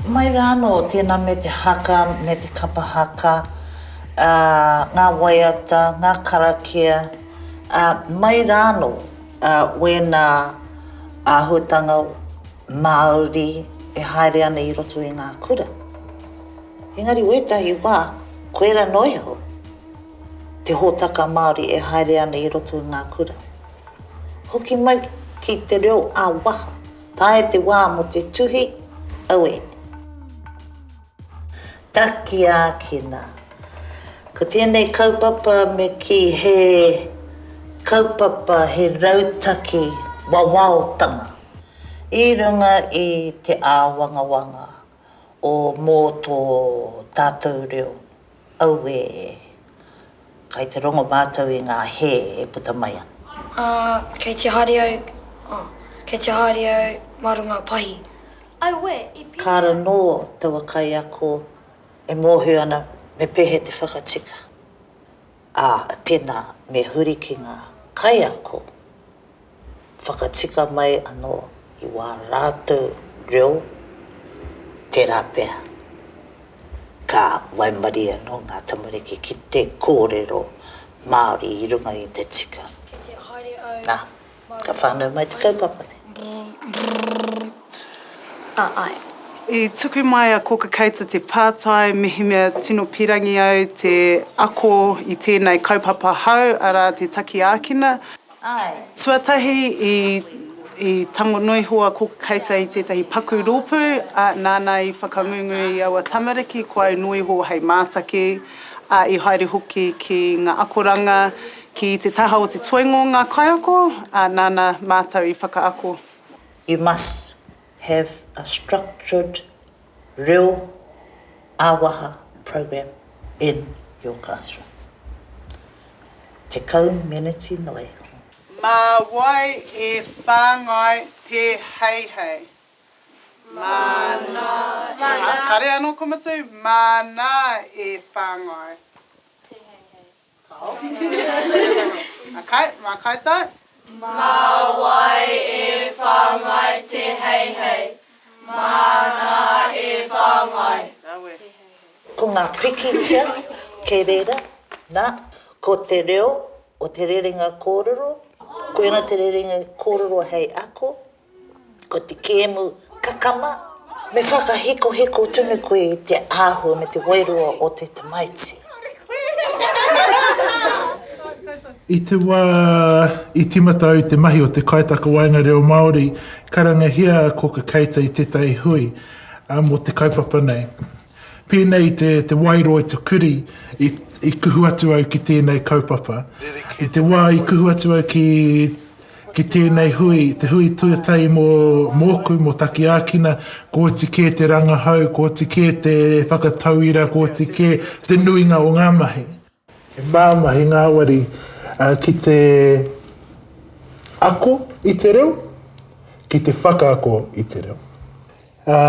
Mai rā anō, tēnā me te haka, me te kapa haka, ā, ngā waiata, ngā karakia, ā, mai rā anō, ā, wēnā āhuatanga Māori e haere ana i roto i ngā kura. Engari wētahi wā, koirā noa iho te hōtaka Māori e haere ana i roto i ngā kura. Hoki mai ki te reo ā-waha. Tae te wā mō te tuhi, aue! Taki ākina. Ko tēnei kaupapa me kī he kaupapa, he rautaki wawaotanga i runga i te āwangawanga o mō tō tātou reo. Auē! Kai te rongo mātou i ngā hē e puta mai ana. Ā, kei te haere au, ā, kei te haere au mā runga pahi. Auē, i pēhea. Ka ara nō taua kaiako e mōhio ana me pēhea te whakatika, ā, tēnā, me huri ki ngā kaiako. Whakatika mai anō i wā rātou reo, tērā pea, ka waimarie anō ngā tamariki ki te kōrero Māori i runga i te tika. Nā, ka whānau mai te kaupapa nei. Āe. I tuku mai a Kōka Keita te pātai, mehemea tino pīrangi au te ako i tēnei kaupapa hou, arā, te taki ākina. Āe. Tuatahi i tango noa iho a Kōku Keita i tētahi paku rōpū, ā, nāna i whakangungu i aua tamariki ko au noa iho hei mātaki, ā, i haere hoki ki ngā akoranga ki te taha o te toenga o ngā kaiako, ā, nāna mātou i whakaako. You must have a structured reo ā-waha program in your classroom. Tekau meneti noa iho. Mā wai e whāngai te heihei? Māna e. Aha, kare anō ko Matiu? Māna e whāngai. Te heihei. Mā koutou? Mā wai e whāngai te heihei? Māna e whāngai. Ko ngā pikitia kei reira, nā, ko te reo o te rerenga kōrero, koina te rerenga kōrero hei ako, Ko te kēmu kakama, me whakahikohiko tonu koe i te āhua me te wairua o te tamaiti. I te wā i tīmata au i te mahi o te kaitakawaenga reo Māori, karangahia ko ka keita i tētahi hui mō te kaupapa nei. Pēnei te, te wairua i te kuri i, i kuhu atu au ki tēnei kaupapa. I te wā i kuhu atu au ki Ki tēnei hui, te hui tuatahi mō, mōku, mō Takiākina, kōti kē te rangahau, kōti kē te whakatauira, kōti kē te nuinga o ngā mahi. He māmā, he ngāwari ki te ako i te reo, ki te whakaako i te reo. Ā,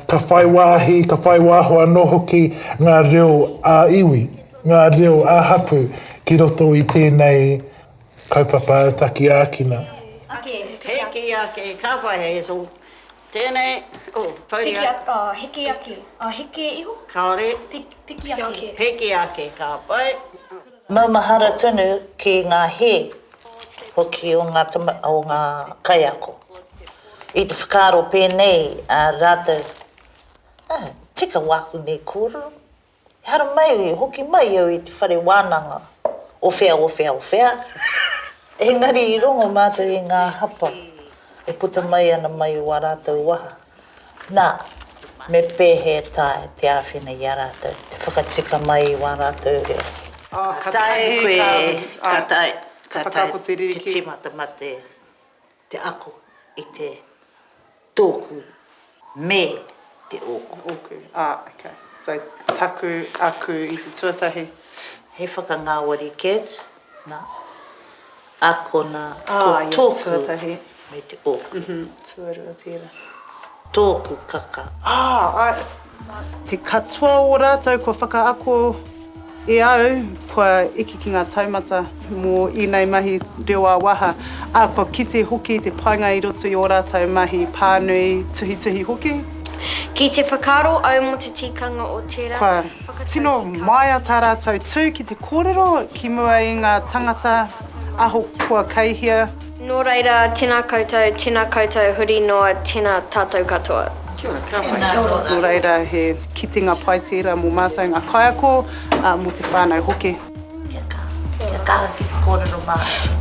ka whai wāhi, ka whai wāho anō hoki ngā reo ā-iwi, ngā reo ā-hapū ki roto i tēnei kaupapa taki ākina. Heke ake, ka whai hei so. Tēnei, oh, pouri ake. Piki ake, heke ake, heke iho. Kāore. Piki ake. Piki ake, ka whai. Maumahara tonu ki ngā hē hoki o ngā o ngā kaiako i te whakaaro pēnei ā rātou, Ā, tika wāku nei kōrero, ehara mai, hoki mai au i te whare wānanga o whea o whea o whea. Engari i rongo mātou i ngā hapa e puta mai ana mai o ā rātou waha. Nā, me pēhea e taea te āwhina i a rātou te whakatika mai i wā rātou reo? Ka taea e koe, ka taea, ka taea te tīmata mate te ako i te tōku me te ōku. Ōku, ā, ok. So, taku, aku i te tuatahi. He whakangāwari kē atu. Na, a kona, ko toku, me te oku. Tuarua tera. Toku kaka. Ah, ae. Te katoa o ratou kua whakaako e au, kua eke ki nga taumata mo enei mahi reo a-waha, a kua kite hoki te painga i roto i o ratou mahi panui, tuhituhi hoki. Ki te whakaaro au mo te tikanga o tera. Tino maea tā rātou tū ki te kōrero ki mua i ngā tangata ahakoa kei hea. Nō reira, tēnā koutou, tēnā koutou huri noa, tēnā tātou katoa. Kia ora, kia pai. Tēnā koutou. Nō reira, he kitenga pai tērā mō mātou ngā kaiako, ā, mō te whānau hoki. Kia kaha, kia kaha ki te kōrero Māori.